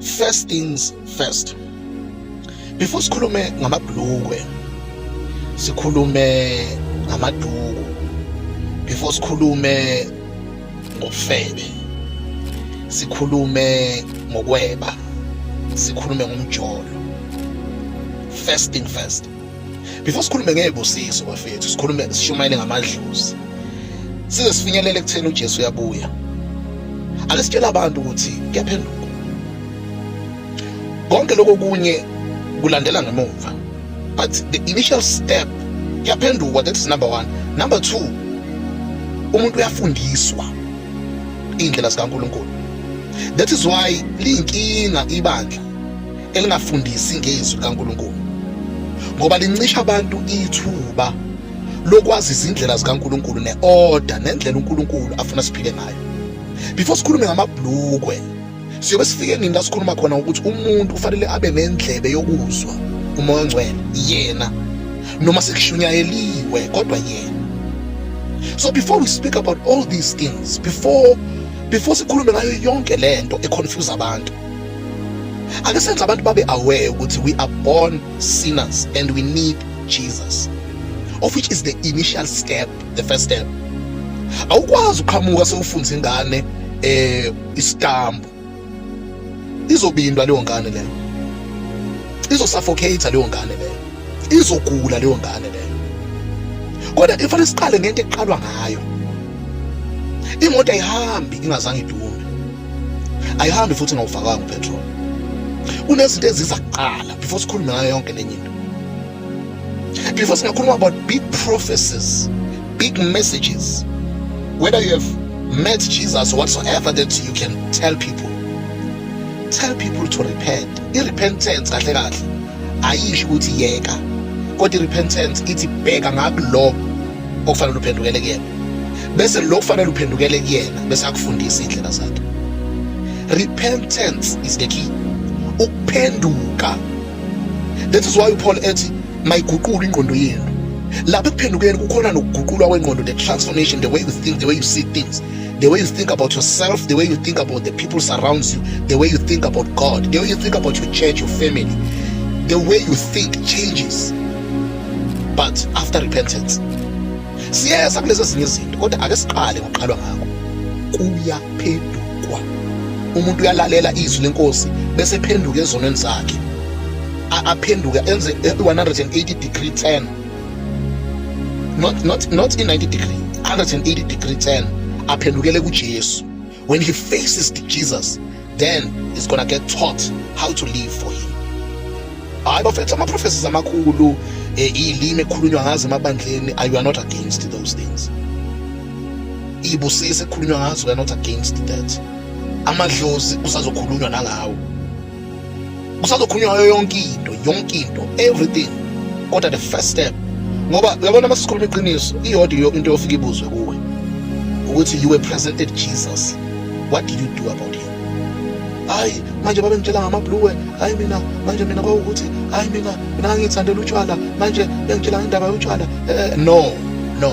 First things first. Before sikhulume ngamabhlukwe, sikhulume ngamaduku. Before sikhulume ngofebe, sikhulume ngokweba, sikhulume ngomjolo. First thing first. before sikhulume ngezibusiso bafethu sikhulume sishumayele ngamadlozi size sifinyelele ekutheni uJesu uyabuya ake sitshele abantu ukuthi kuyaphenduka konke lokho kunye kulandela ngemuva but the initial step kuyaphendukwa that is number 1 number 2 umuntu uyafundiswa indlela zikaNkuluNkulu that is why liyinkinga ibandla elingafundisi ngezwi likaNkulunkulu ngoba lincisha abantu ithuba lokwazi izindlela zikaNkulunkulu ne-order nendlela uNkulunkulu afuna siphile ngayo before sikhulume ngamabhlukwe siyobe sifike nini la sikhuluma khona ukuthi umuntu kufanele abe nendlebe yokuzwa umoya ongcwele yena noma sekushunyayeliwe kodwa yena so before we speak about all these things before before sikhulume ngayo yonke lento econfuse abantu ake senze abantu babe aware ukuthi we are born sinners and we need Jesus of which is the initial step the first step awukwazi uqhamuka sewufunza ingane eh isitambu izobindwa leyo ngane leyo izosuffocate leyo ngane leyo izogula leyo ngane leyo kodwa ifanele siqale ngento eqalwa ngayo imoto ayihambi ingazange idume ayihambi futhi ngawufakanga upetrol kunezinto eziza kuqala before sikhulume ngayo yonke lenye into before singakhuluma about big prophecies big messages whether you have met jesus or whatsoever that you can tell people tell people to repent i-repentance kahle kahle ayisho ukuthi yeka kodwa irepentance ithi bheka ngakulo okufanele uphendukele kuyena bese lo kufanele uphendukele kuyena bese akufundisa indlela zakhe repentance is the key ukuphenduka that is why uPaul ethi mayiguqule ingqondo yenu lapha ekuphendukeni kukhona nokuguqulwa kwengqondo the transformation the way you think the way you see things the way you think about yourself, the way you think about the people surrounds you, the way you think about God, the way you think about your church, your family, the way you think changes. But after repentance, siyeza kulezo ezinye izinto kodwa ake siqale ngokuqalwa ngako kuyaphendukwa umuntu uyalalela izwi lenkosi bese phenduka ezonweni zakhe aphenduka enze 180 degree turn not not not in 90 degree 180 degree turn aphendukele kuJesu when he faces Jesus then he's gonna get taught how to live for him hayi bafethu ama-prophecies amakhulu eh, iy'limi ekhulunywa ngazo emabandleni you are not against those things iy'busisi ekhulunywa ngazo you are not against that amadlozi kusazokhulunywa nangawo kusazokhulunywa ngayo yonke into yonke into everything kodwa the first step ngoba uyabona uma sikhuluma iqiniso iyodwa into yofika ibuzwe kuwe ukuthi you were present at jesus what did you do about him hayi manje babengitshela ngamabhluwe hayi mina manje mina kwawukuthi hayi mina mina ngangithandela utshwala manje bengitshela ngendaba yotshwala eh, eh, no no